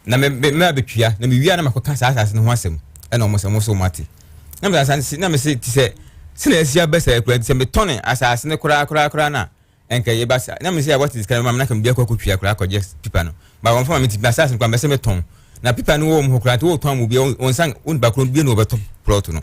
na me me me abɛtua na mewie a na makɔka saa asase no ho asɛm ɛna ɔmo sɛ ɔmo so ɔmo ate na mesa san si na mese ti sɛ sɛnea asi aba saa kura nti sɛ metɔne asase no koraa koraa koraa no a nka yɛba saa na mese a wɔte sika no ma me na ka mede akɔ akɔtua koraa akɔgye pipa no ba wɔmfa ma me ti ma asase no koraa mɛsɛ metɔn na pipa no wɔ wɔn hɔ koraa nti wɔtɔn mu bia wɔn nsa wɔn nipa koro bia na wɔbɛtɔ plɔt no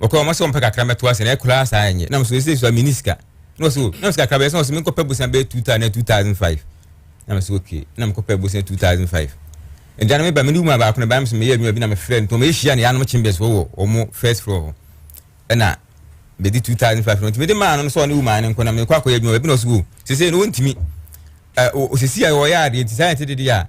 wɔkɔ wɔn sɛ wɔn pɛ kakra mɛto ase na ɛkura saa ɛnyɛ na wɔn sɛ ɛsɛ sɛ mi ni sika na wɔn sɛ o na wɔn sɛ kakra bɛyɛ sɛ wɔn sɛ mi nkɔpɛ bosan bɛyɛ two thousand two thousand five na wɔn sɛ okay na mi kɔpɛ bosan two thousand five ɛgya na mi ba mi ni mu abaako na ba mi sɛ mi yɛ adwuma bi na mi frɛ ntɔn mi ehyia ne yanom chambers wɔ wɔ wɔn first floor hɔ ɛna mi di two thousand five na ntumi de maa no sɛ ɔne wumaa ne nkɔ na mi kɔ akɔyɛ adwuma bi na ɔsɛ o sese no wɔntumi ɛ o sisi a wɔyɛ adeɛ ti saa yɛn ti de de a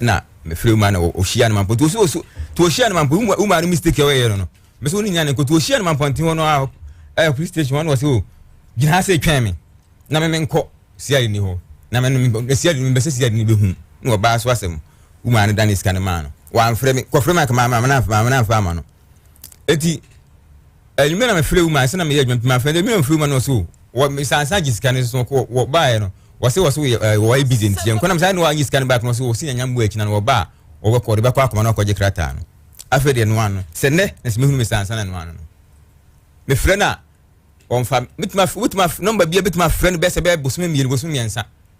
na mefrɛ wo maa na ɔhyia no ma mpɔ nti ɔsi ɔsi nti ɔhyia no ma mpɔ wo maa no mistake a ɔyɛ no no mesi wo ne nya ne nkoto ɔhyia no ma mpɔ nti hɔ no a ɛyɛ police station hɔ na ɔsi o gyina ha sɛ twɛn me na me menkɔ siari ni hɔ na me me siari ni mbɛsɛ siari ni bɛhu na ɔbaa so asɛm wo maa no da ne sika no maa no wɔamfrɛ me kɔfrɛ me anka maa maa na maa na nfa ama no eti enyimɛ na mefrɛ wuma ansa na meyɛ adwuma pima afei de mena mefrɛ wuma na ɔso wɔ mesansa gye sika no so kɔ wɔ baeɛ no wɔse wɔse wɔyɛ eh, wɔyɛ busy nti yɛnkɔ na mesan ne wɔanye sika no back no ɔso wɔse yɛnya mmoa akyi na no wɔba a wɔbɛkɔ ɔde bɛkɔ akoma na ɔkɔgye krataa no afei deɛ noa no sɛ nnɛ na sɛ mehunu mesansa na noa no no mefrɛ no a ɔmfa metumi wobɛtumi nɔmba bia bɛtumi afrɛ no bɛsɛ bɛyɛ bosome mmienu bosome mmiɛnsa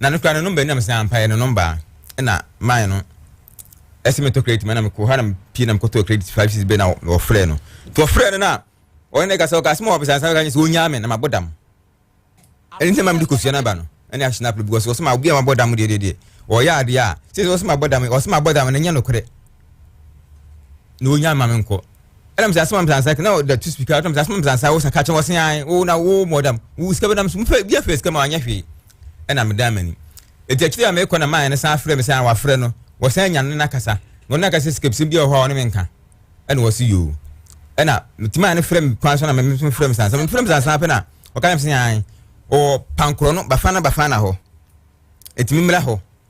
na no koraa no number ni na me san mpaeɛ no number a ɛna mae no ɛsɛ metɔ credit ma na mekɔ hɔ na mepie na mekɔtɔ credit five six bɛ na wɔfrɛ no nti wɔfrɛ no na ɔne ne kasa ɔka sɛ ma wɔbɛsa nsa ka nyɛ sɛ ɔnyaa me na mabɔ dam ɛne sɛ ma mede kɔsua no aba no ɛne ahyɛ no apere because wɔsɛ ma obi a mabɔ dam deɛ deɛ deɛ ɔyɛ adeɛ a sɛ wɔsɛ ma bɔ dam wɔsɛ ma bɔ dam no nyɛ nokorɛ na ɔnyaa ma me nkɔ ɛna mesa sɛ ma mesa nsa na ɔda tu speaker na mesa sɛ ma mesa nsa wo sa ka kyɛ wɔsɛ ae wo na wo mɔ dam wo sika bɛdam so mfɛ bi afɛ sika ma anyɛ hwee na medan m'ani. Enti akyiri yi a merekɔ na Maya no san frɛ me sɛ wafrɛ no, wɔsan nya no ne no akasa, na ɔne no aka sɛ sikabusɛm bi wɔ hɔ a ɔne me nka. Ɛna ɔse yoo. Ɛna mete Maya no frɛ me kwan so na me nso mefrɛ me saa. Sɛ mefrɛ me saa saa pɛ na ɔka kyerɛ me sɛ ae, ɔwɔ Pankorɔ no, Bafana Bafana hɔ. Enti memmra hɔ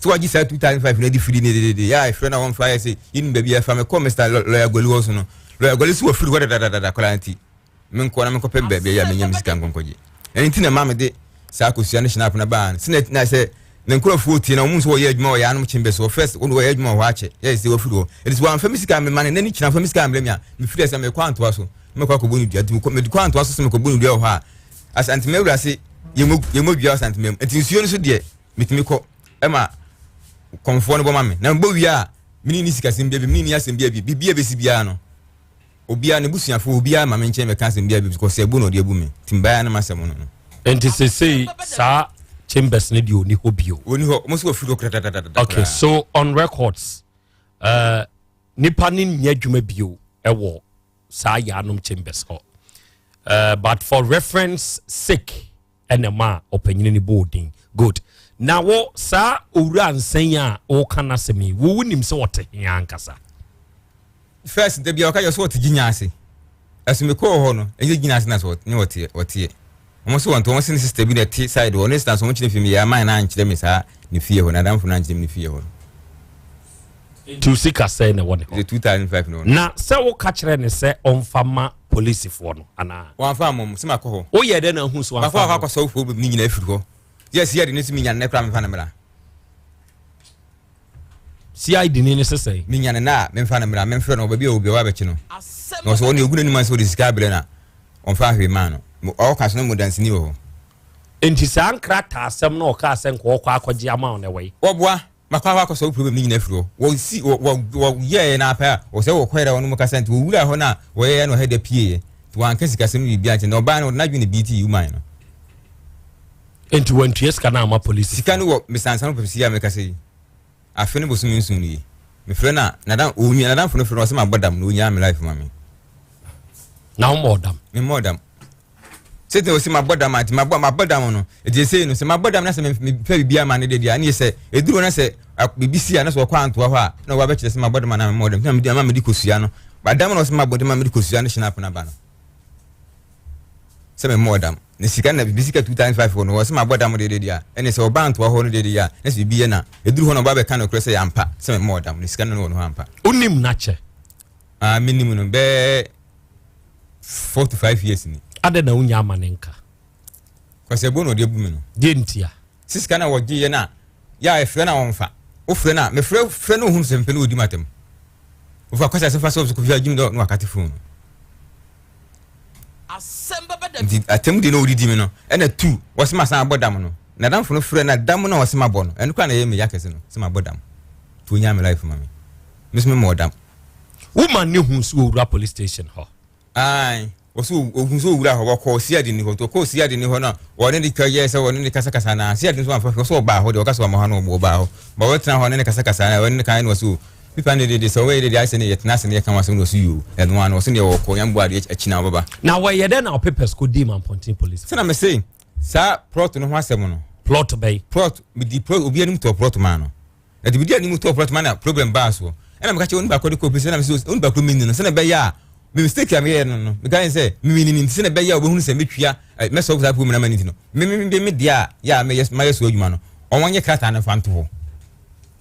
so wagye saa two thousand five na ɛde firi ne dedede yɛ a ɛfrɛ na wɔn fa yɛ sɛ yɛnim baabi ɛfa mɛ kɔ mr lɔya gɔli hɔ so no lɔya gɔli so wɔfiri hɔ dadadada koraa nti me nkɔ na me nkɔ pɛm baabi ɛyɛ a me nya me sika nkɔnkɔgye ɛne ti na maa me de saa akosua ne hyɛnap na baa no sɛ na sɛ ne nkurɔfoɔ tie na wɔn nso wɔyɛ adwuma wɔyɛ anom kyen bɛ so wɔ first wɔn wɔyɛ adwuma wɔ hɔ akyɛ yɛ sɛ wɔfiri hɔ ɛde sɛ wɔn afɛ me sika me ma ne nani kyina afɛ me sika mbrɛ mi a me firi ɛsɛ me kɔ antoa so me kɔ akɔbɔ ne dua nti me kɔ me kɔ antoa so so me kɔbɔ ne dua wɔ hɔ a asantuma awurase yɛmɔ dua asantuma mu nti nsuo no so deɛ metumi kɔ ma kɔmfoɔ no bɔ ma me na mebɔ wie a mene ni sikasɛm bia bi mene ni asɛm bia bi biribi a bɛsi biara no obiara ne busuafoɔ obiara ma me nkyɛn bɛka asɛm bia bi kɔ sɛ ɛbu na ɔde abu me tim baa no masɛm no no nti sesei saa chambers no deɛ ɔni hɔ bio ɔni hɔ ɔmo so wafiri hɔ kratatatatata okay so on records uh, nipa ne nyɛ adwuma bio ɛwɔ saa yaanom chambers hɔ uh, but for reference sake ɛna ɛmaa ɔpanyin no bɔɔ din good na wo saa owura nsɛn a woka n'asɛm yi wo wonim sɛ ɔte he ankasa first da bia ɔka yɛ so ɔte gyinya ase ɛso mekɔɔ hɔ no ɛnyɛ gyinya ase na sɛ ne ɔteɛ ɔteɛ wɔn so wɔn to wɔn se ne sista bi na ɛte side wɔ ne sena so wɔn kyerɛ fi mi yɛ aman na ankyerɛ mi saa ne fie hɔ na adamfo na ankyerɛ mi ne fie hɔ no Nti sika sɛn na ɛwɔ ne hɔ? Na sɛ woka kyerɛɛ no sɛ ɔmfa mma polisifoɔ no anaa? Wamfa ammɔ me, sɛ makɔ hɔ. Woyɛɛ dɛn na wohuu sɛ wamfa ammɔ? Makɔ akɔ akɔsɔ wofoɔ baabi no nyinaa afiri hɔ. Yɛ CID no se menya no nnɛ koraa memfa no mmra. CID ni no se sɛn? Menya no nnɛ a memfa no mmra, memfrɛ no wɔ baabi a ɔwɔ biara bɛkye no. Na ɔsɛ ɔne ɔgu n'anim ase ɔde sika abrɛ no a ɔmfa hwee maa no. Ɔka so no mu danseni wɔ hɔ. Nti saa nkrataasɛm na ɔkaa sɛ nka ɔkɔ akɔgye ama wo no ɛwɔ he? Wɔboa. Makɔ hɔ akɔsɔ wo problem no nyina afiri hɔ. Wɔ si, wɔ, wɔ, wɔ yɛɛyɛ no ara pɛ a, wɔ sɛ wɔ kɔɛ dɛ wɔnom kasa nti, wɔ wuraa hɔ no a, wɔ yɛɛyɛ no wɔ hɛ dɛ pieeɛ. Nti wɔ anka sikasɛm no biribiaa nkyɛ, na ɔbaa no wɔde n'adwene beatii woman no. Nti wɔ antua sika no amma polisi foɔ. Sika no wɔ mesansa no pɛpɛsi yi a mekasa yi, afe no bosome nson nie. Me frɛ no a, nadam, ɔnua, nadamfo no frɛ no, ɔsɛ mabɔ dam, na ɔnyaa me life ma me. Na wo mmɔɔ dam? Me mmɔɔ dam. Sɛ tena osi mabɔ dam a nti mabɔ mabɔ dam no nti esei no sɛ mabɔ dam na sɛ mepɛ biribi ama no deɛ deɛ ne sɛ ɛduru hɔ na sɛ biribi si a na sɛ ɔkɔ antoa hɔ a na wɔabɛkyerɛ sɛ mabɔ dam anaa memmɔ dam na mede ama mede kɔsua no badam na ɔsɛ mabɔ dam ma mede kɔsua no hyɛ no apena ba no sɛ memmɔ dam ne sika na biribi sika 2005 hɔ no ɔsɛ mabɔ dam deɛ deɛ a ɛne sɛ ɔba antoa hɔ no deɛ deɛ a na sɛ biribi yɛ na ɛduru hɔ na ɔba bɛka no korɛ sɛ yɛ ampa sɛ memmɔ dam ne sika no wɔ no hɔ ampa wonim no akyɛ? Ah, menim no bɛɛ forty five years ni. adɛ na wonya ama ne nka. kɔsɛ bo na ɔde abu me no. deɛ ntia. sɛ sika na wɔgye yɛ no a yɛ a ɛfrɛ no a wɔmfa wofrɛ no a mefrɛ frɛ no ohunu sɛ mpɛ no wɔdi matam wofa kɔsɛ asɛmfa sɛ ɔbɛkɔfi agyim dɛ na wakate fon no nti atam deɛ na ɔdidi me no ɛna tu wɔsɛ masan abɔ dam no na damfo no frɛ na dam no a wɔsɛ mabɔ no ɛno kora na ɛyɛ me ya kɛse no sɛ mabɔ dam nti ɔnya me life ma me mesome mmɔ dam woman ne hu so owura police station hɔ ae wɔsɛ ohun sɛ owura hɔ wɔkɔ ɔsiade ni hɔ nti ɔkɔ ɔsiade ni hɔ no a wɔne ne twa yɛɛ sɛ wɔne ne kasakasa na ɔsiade no so amfa hwɛ sɛ ɔbaa hɔ deɛ ɔka sɛ ɔma hɔ no ɔbaa hɔ ma wɔtena hɔ ne ne kasakasa na wɔne ne kan no ɔsɛ o pipa ne dede sɛ wɔyɛ dede ayɛ sɛ ne yɛtena ase ne yɛka wɔn asɛm no ɔsɛ yoo ɛno ano ɔsɛ neɛ wɔkɔ yɛn bo adeɛ akyi na wɔbɛba na wɔyɛ dɛ na ɔpepɛs kɔ dii mampɔnten polisi sɛ na me se saa plot no ho asɛm no plot bɛyi plot medi plot obi anim tɔ plot maa no na dibidi a ne mu tɔɔ korɔ toma na problem baa soɔ ɛna meka kyɛ onipa kɔ de kɔ pese na mesɛ onipa koro menni no sɛna ɛbɛyɛ a me mistake a meyɛ no no meka ne sɛ memenni no nti sɛna ɛbɛyɛ a wɔbɛhunu sɛ metwia mɛsɔre saa problem na ma ne nti no mememebe me deɛ a yɛ a meyɛ mayɛ so adwuma no ɔwɔ nyɛ krataa no fa nto hɔ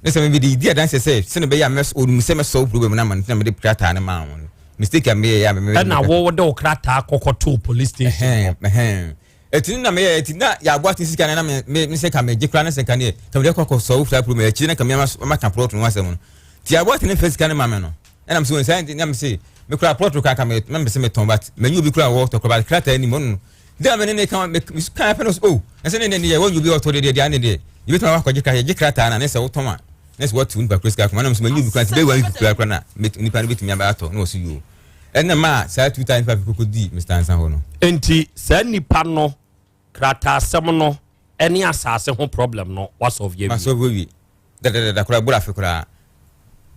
ne sɛ mebɛde yɛdi adanseɛ sɛ sɛna ɛbɛyɛ a ɔnim sɛ mɛsɔre problem no ama no nti na mede krataa no maa wɔn mistake a meyɛ yɛ a mememebe ɛna wɔwɔ de wo krataa kɔkɔtoo police station hɔ Ɛtene na meyɛ ɛti na ya bɔ ate sika na na me me me sɛ ka me gye kura ne sɛ ka neɛ ka me deɛ kɔkɔ sɔ wofura puro mu ɛkyire na ka me ama ama ka plot no asɛm no ti ya bɔ ate ne fɛ sika ne ma me no ɛna me sɛ wɔn sɛ na me sɛ me kura plot kura ka me na me sɛ me tɔn but me nyi obi kura wɔ tɔ kura but krataa ni mo no deɛ me ne ne ka me ka afɛ no sɛ oh ɛsɛ ne ne ne yɛ wɔn nyi obi ɔtɔ deɛ deɛ deɛ ne deɛ ebi tɔn akɔ gye kura yɛ gye krataa na ne sɛ wotɔn a ne sɛ wɔtu nipa kura sika kuma na me sɛ me nyi obi kura ti bɛ wɔn kura kura na nipa no bɛ tumi aba atɔ na wɔsi yoo Ɛna maa saa two times five koko dii Mister Ansa hɔ no. Nti saa nnipa no krataasɛm no ɛne asaase ho problem no wasɔvye awie. Masɔvye awie dadadada koraa ɛboro afe koraa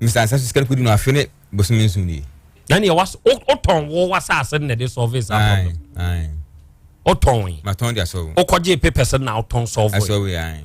Mister Ansa so sika no kodi no afe ne bosome nson nie. Na neɛ was wotɔn wo wasaase no na ɛde sɔvye saa problem. Ae ae. Wotɔn yi. Matɔn de asɔvye. Wokɔgye papers no na wotɔn sɔvye. Asɔvye ae.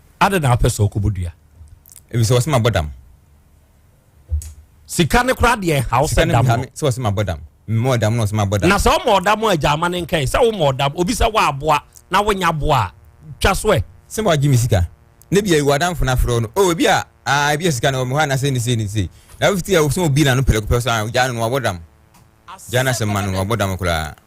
Adɛn na wopɛ sɛ ɔkɔbɔ dua? Ebi sɛ wɔsɛ ma bɔ dam. Sika ne koraa deɛ ɛha wo sɛ dam no. Sɛ wɔsɛ ma bɔ dam. Mmɔ dam na wɔsɛ ma bɔ dam. Na sɛ wɔmɔ ɔdam a gya ama ne nkae sɛ womɔ ɔdam obi sɛ wɔaboa na wonya boa a twa so ɛ. Sɛ wɔagye me sika ne bia ewu adamfo na afrɛ no o oh, ebi a aa ebi a sika na wɔmɔ hɔ anasɛ ne sei ne sei na wofi ti a wɔsɛ obi na no pɛlɛ kopɛ so a gya no wɔabɔ dam gya no asɛm ma no wɔabɔ dam koraa.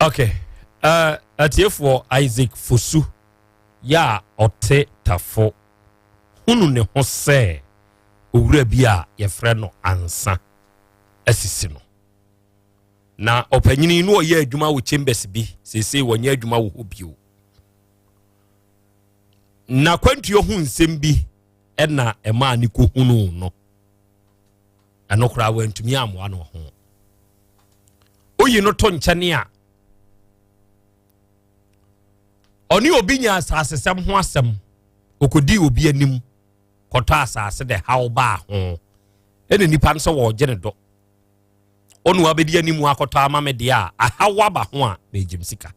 okay uh, atiefoɔ isaac fosu yɛ a ɔte tafo hunu ne ho sɛ owura bi a yɛfrɛ no ansa asisi no na ɔpanyini no ɔyɛ adwuma wɔ chambers bi seesei wɔnyɛ adwuma wɔ hɔ bio na kwantuo ho nsɛm bi ɛna ɛmaa ne kɔhunuu no ɛno koraa wantumi ammoa no ho woyi no to nkyɛne a ɔne obi nya asasesɛm ho asɛm ɔkɔdii obi anim kɔtɔ asase dɛ haw baa ho ɛna nipa no sɛ wɔregye ne dɔ ɔne wabɛdi anim akɔtɔ ama me deɛ a ahaw aba ho a megyim sika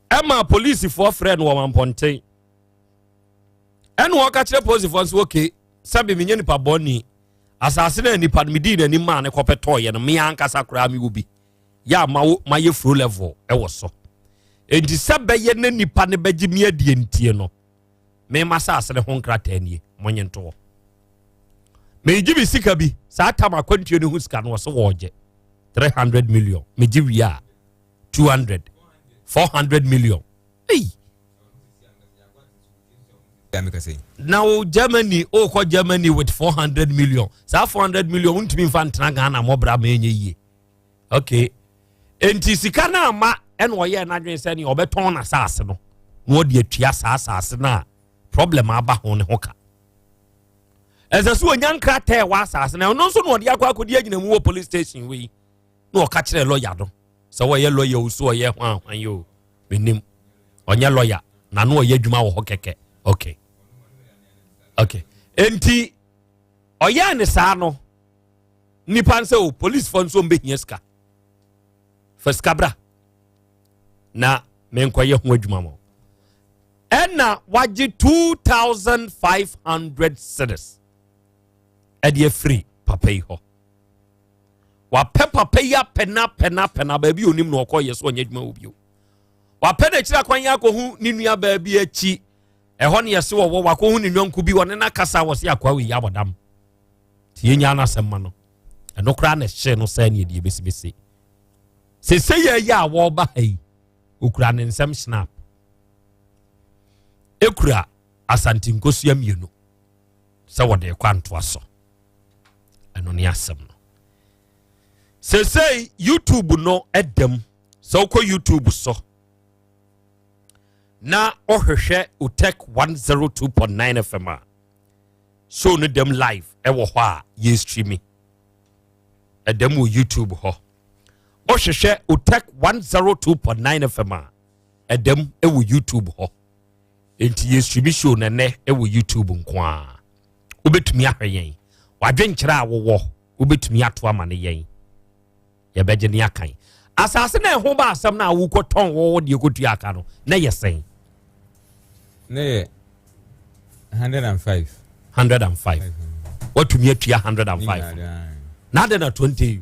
ɛma polisifoɔ frɛ no wɔn mpɔnten ɛna ɔka kyerɛ posifoɔ nso oke sɛbe menyɛ nipa bɔne asase no a nipa no medii n'anim maa ne kɔpɛ tɔɔyɛ no me ankasa koraa mewɔ bi yɛ a mayɛ furo level ɛwɔ so enti sɛ bɛyɛ ne nipa no bɛgye me adie ntie no mema asase no ho nkrataa nie monye ntoɔ megye me sika bi saa tam akwantuo no ho sika no ɔse wɔɔgye 300 million megye wie a two hundred four hundred million ei na wo germany o kɔ germany with four hundred million saa four hundred million ntumi nfa ntena ghana mɔbra ma enye yie okay nti sika no ama ɛna ɔyɛ n'adwene sɛ nea ɔbɛtɔn n'asaase no na ɔde atua saa asaase no a problem aba ho ne ho ka ɛsɛ so onya nkrataa ɛwɔ asaase no ɛno nso na ɔde akɔ akɔdi agyinamu wɔ police station wei. na ɔka kyerɛ lɔya no sɛ wɔyɛ lɔya o so ɔyɛ ho ahwan yi o menim ɔnyɛ lɔya na no ɔyɛ adwuma wɔ hɔ kɛkɛ okay okay enti ɔyɛɛ ne saa no nipa nsɛ o policefoɔ nso mbɛhia sika fa sika bra na menkɔyɛ ho adwuma mɔ ɛna wagye 2500 cities ɛde afiri papa yi hɔ wapɛ papa yi apɛ na apɛ na apɛ na baabi onim na ɔkɔ yɛ so ɔnyɛ adwuma wɔ bio wapɛ na akyiri akwan yɛ akɔhu ne nua baabi akyi ɛhɔ ne yɛse wɔwɔ wakɔhu ne nyɔnko bi wɔne no akasa wɔ se akoa wei abɔdam nti yɛnya no asɛm ma no ɛno koraa na ɛhyee no sɛ ne ɛdeɛ bɛsibɛsi sese yɛ yɛ a wɔreba ha yi okura ne nsɛm snap ekura asante nkosua mmienu sɛ wɔde kɔ antoa so. ɛno ne asɛm no sesei youtube no ɛdam sɛ wokɔ youtube so na wohwehwɛ otech 102.9 fm a show no dam live ɛwɔ hɔ a yɛ streami ɛdam wɔ youtube hɔ wohwehwɛ otech 102.9 fm a ɛdam ɛwɔ youtube hɔ nti yɛ stream show na nnɛ ɛwɔ youtube nko a wobɛtumi ahwɛ yɛn wadwenkyerɛ a wowɔ wobɛtumi ato ama ne yɛn yɛbɛgye ne akan asase na ɛho ba asɛm no a wokɔtɔn wɔwɔ deɛ kɔtua aka no na yɛ sɛn na yɛ 105 105 watumi atua 105 na adɛ na 20